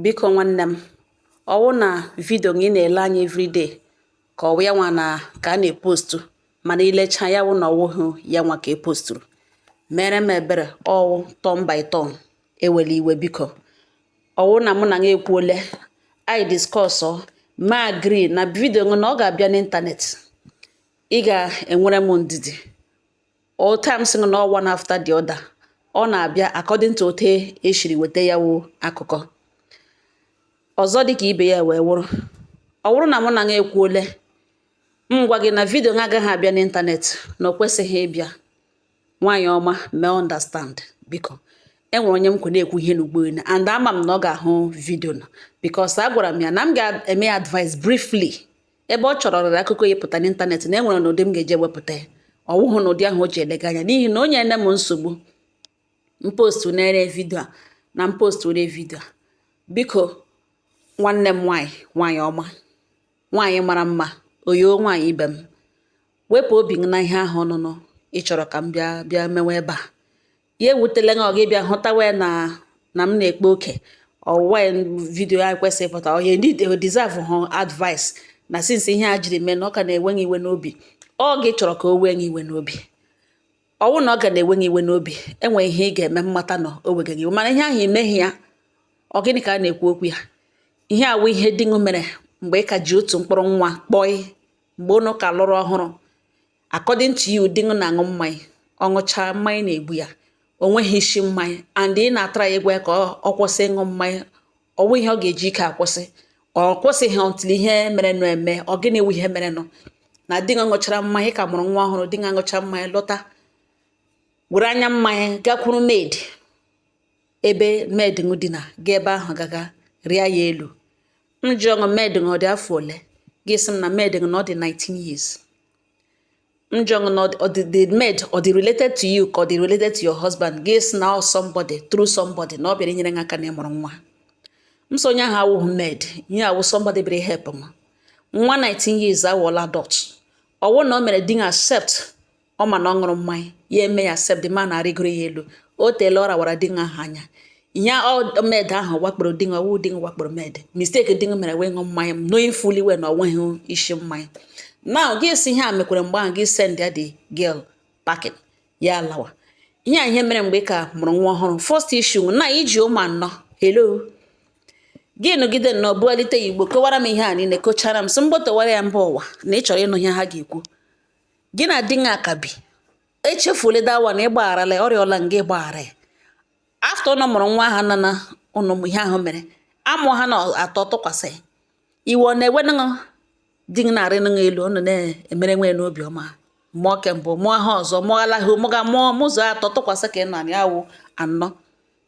Biko nwanne m, ọ wụ na vidio gị ị na-ele anya everyday ka ọ wụ ya nwa na ka a na-epostu mana i lecha ya wụ na ọ wụghị ya nwa ka e posturu meere m ebere ọ wụ turn by turn ewela iwe biko ọ wụ na mụ na gị ekwuole anyị discuss ma agree na vidio gị na ọ ga-abịa n'ịntanetị ị ga-enwere m ndidi all times sị na one after the other ọ na-abịa according to ote e siri weta ya wụ akụkọ ọzọ dịka ibe ya wee wụrụ ọ wụrụ na mụ na gị ekwuole m gwa gị na vidio gị agaghị abịa n'ịntanetị na o kwesịghị ịbịa nwaanyị ọma mee understand biko e nwere onye m kwe na-ekwu ihe n'inbox and ama m na ọ ga-ahụ vidio na because agwara m ya na m ga-eme advice briefly ebe ọ chọrọ rere akụkọ ya pụta n'ịntanetị na e nwere n'ụdị m ga-eji ewepụta ya ọ wụghụ n'ụdị ahụ o ji elega anya n'ihi na o nyeene m nsogbu m postunere vidio a na m posture vidio a biko nwanne m nwaanyị nwaanyị ọma nwaanyị mara mma oyoo nwaanyị ibe m wepụ obi gị na ihe ahụ ọnụnụ ị chọrọ ka m bịa mewe ebe a ya ewutela gị ọ gị bịa hụtawa ya na na m na-ekpa oke ọ wụwa ya vidio a kwesịrị ịpụta ọhịa ndị deserve hụ advice na since ihe a jiri mee na ọ ka na-ewe iwe n'obi ọ gị chọrọ ka o wee gị iwe n'obi ọ wụ na ọ ka na-ewe gị iwe n'obi e nwe ihe ị ga-eme m mata na o wega gị iwe mana ihe ahụ i meghị ya ọ gịnị ka a na-ekwu okwu ya ihe a wụ ihe di ṅụ mere mgbe ị ka ji otu mkpụrụ nwa kpọị mgbe ụnụ ka lụrụ ọhụrụ According to you, di gị na-aṅụ mmanya, ọ ṅụchaa mmanya na-egbu ya, o nweghị isi mmanya and ị na-atry ịgwa ya ka ọ kwụsị ịṅụ mmanya, ọ wụghị ihe ọ ga-eji ike akwụsị, ọ kwụsịghị until ihe merenụ eme, ọ gịnị wụ ihe merenụ? Na di gị ṅụchara mmanya, ị ka mụrụ nwa ọhụrụ, di gị aṅụcha mmanya lọta, were anya mmanya gakwuru maid, ebe maid ṅụ dina, gaa ebe ahụ gaga rịa ya elu. M jụọ gị maid ṅụ ọ dị afọ ole? Gị sị m na maid ṅụ na ọ dị 19 years. m jụọ gị na the maid ọ dị related to you ka ọ dị related to your husband gị sị na ọ somebody through somebody na ọ bịara inyere gị aka na ị mụrụ nwa m sị onye ahụ awụghị maid ihe a wụ somebody bịara help m nwa 19 years awụọla adult ọ wụ na o mere di ṅụ accept ọ ma na ọ ṅụrụ mmanya ya eme ya accept the man arịgoro ya elu o teela ọ rawara di ahụ anya ihe ọ maid ahụ wakporo di ṅụ ọ wụ di ṅụ wakporo maid mistake di ṅụ mere wụ ịṅụ mmanya knowing fully well na o nweghị isi mmanya now gị sị ihe a mekwere mgbe ahụ gị send ya the girl packing ya lawa ihe a ihe mere mgbe ị ka mụrụ nwa ọhụrụ first issue na i ji ụmụ anọ hello gị nọgide nnọọ bugharịta ya inbox kọwara m ihe a niile kọchara m sị m gbotowara ya mba ụwa na ị chọrọ ịnụ ihe ha ga-ekwu gị na di ṅụ ka bi e chefuola that one na ị gbagharala ya, ọ rịọla ṅụ ị gbaghara ya after ụnụ mụrụ nwa ahụ nana ụnụ ihe ahụ mere amụ ha na atọ tụkwasị iwe ọ na-ewe nụṅụ di gị na-arị nụṅụ elu ụnụ na-emere nwe n'obi ọma mụọ ke mbụ mụọ ha ọzọ mụọ alaghị mụga mụọ mụzuo atọ tụkwasị ka ị nọ ya wụ anọ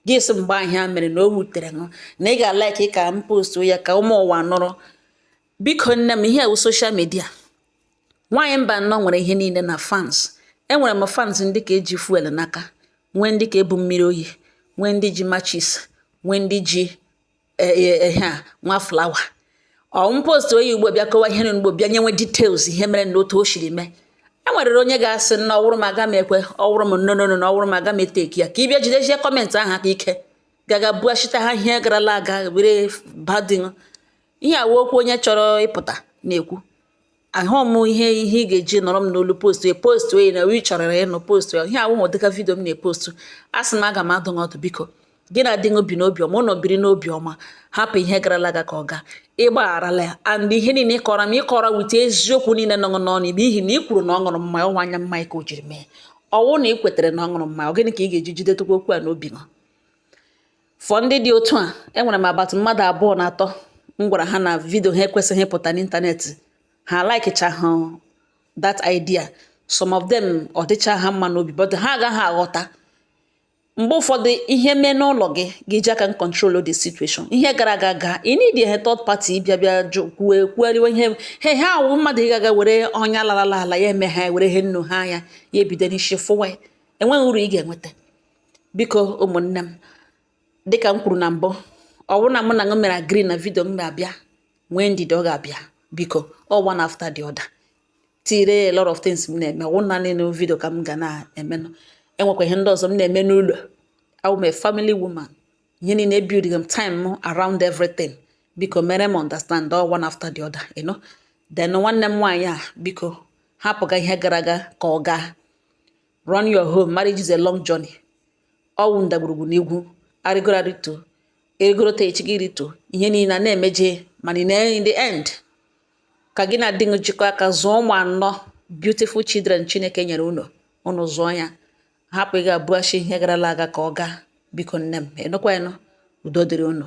gị sị mgbe ihe a mere na o wutere ṅụ na ị ga-alike ka m postu ya ka ụmụ ụwa nụrụ biko nne m ihe a wụ social media Nwaanyị mba anọ nwere ihe niile na fans. Enwere m fans ndị ka eji fuel n'aka, nwee ndị ka ebu mmiri oyi, nwee ndị ji matches, nwee ndị ji e, e, ehe a nwa flower. Ọwụ m post onye ugbo bịa kọwa ihe n'Igbo bịa nyenwe details ihe mere na otu o siri mee. Enwerere onye ga-asị na ọwụrụ m aga m ekwe ọwụrụ m no no no na ọwụrụ m aga m eteki ya ka ị bịa jidezie comment ahụ aka ike gaga bughachita ha ihe garala aga were badin ihe a wụ okwu onye chọrọ ịpụta na-ekwu ahụ m ihe ihe ị ga-eji nọrọ m n'olu postu ya postu ya na ị chọrọ ịnụ postu ihe awụ m dịka video m na-epostu a sị m aga m adụ ọdụ biko gị na di gị ebi n'obi ọma unu biri n'obi ọma hapụ ihe garala aga ka ọ gaa ị gbagharala ya and ihe niile ị kọrọ m ị kọrọ wute eziokwu niile nọ n'ọnụ n'ihi na ị kwuru na ọ ṅụrụ mmanya ọwụ anya mmanya ka o jiri mee ọwụ na ị kwetara na ọ ṅụrụ mmanya ọ gịnị ka ị ga-eji jidetụkwa okwu a n'obi gị For ndị dị otu a, enwere m about mmadụ abụọ na atọ m gwara ha na video ha ekwesịghị ịpụta n'internet. Ha likechaha that idea. Some of them ọ dịcha ha mma n'obi but ha agaghị aghọta. Mgbe ụfọdụ ihe mee n'ụlọ gị gị ji aka control the situation. Ihe gara aga gaa ị need a third party bịa bịa jụ kwue kwueriwe ihe he ha awụ mmadụ ị gaga were ọnya larala ala ya eme ha were ihe nnu ha anya ya ebido n'isi fụwa ya enweghị uru ị ga-enweta. biko ụmụnne m dịka m kwuru na mbụ ọ bụrụ na mụ na ṅụ mere agree na video m ga-abịa nwee ndidi ọ ga-abịa biko ọ one after the other there are a lot of things m na-eme ọ naanị video ka m ga na-emenụ enwekwa ihe ndị ọzọ m na-eme n'ụlọ I'm a family woman ihe niile ebuilding m time m around everything biko mere m understand ọ one after the other you know then nwanne m nwaanyị a biko hapụga ihe gara aga ka ọ gaa Run your home, marriage is a long journey. Ọwụ ndagwurugwu na ugwu, arịgoro arịtọ, ị rịgoro taa echi gị rịtọ, ihe niile a na-emeje mana in the end ka gị na di gị jikọọ aka zụọ ụmụ anọ beautiful children Chineke nyere unu unu zụọ ya hapụ ịga bughachi ihe garala aga ka ọ gaa biko nne m ị nụkwanụ udo dịrị unu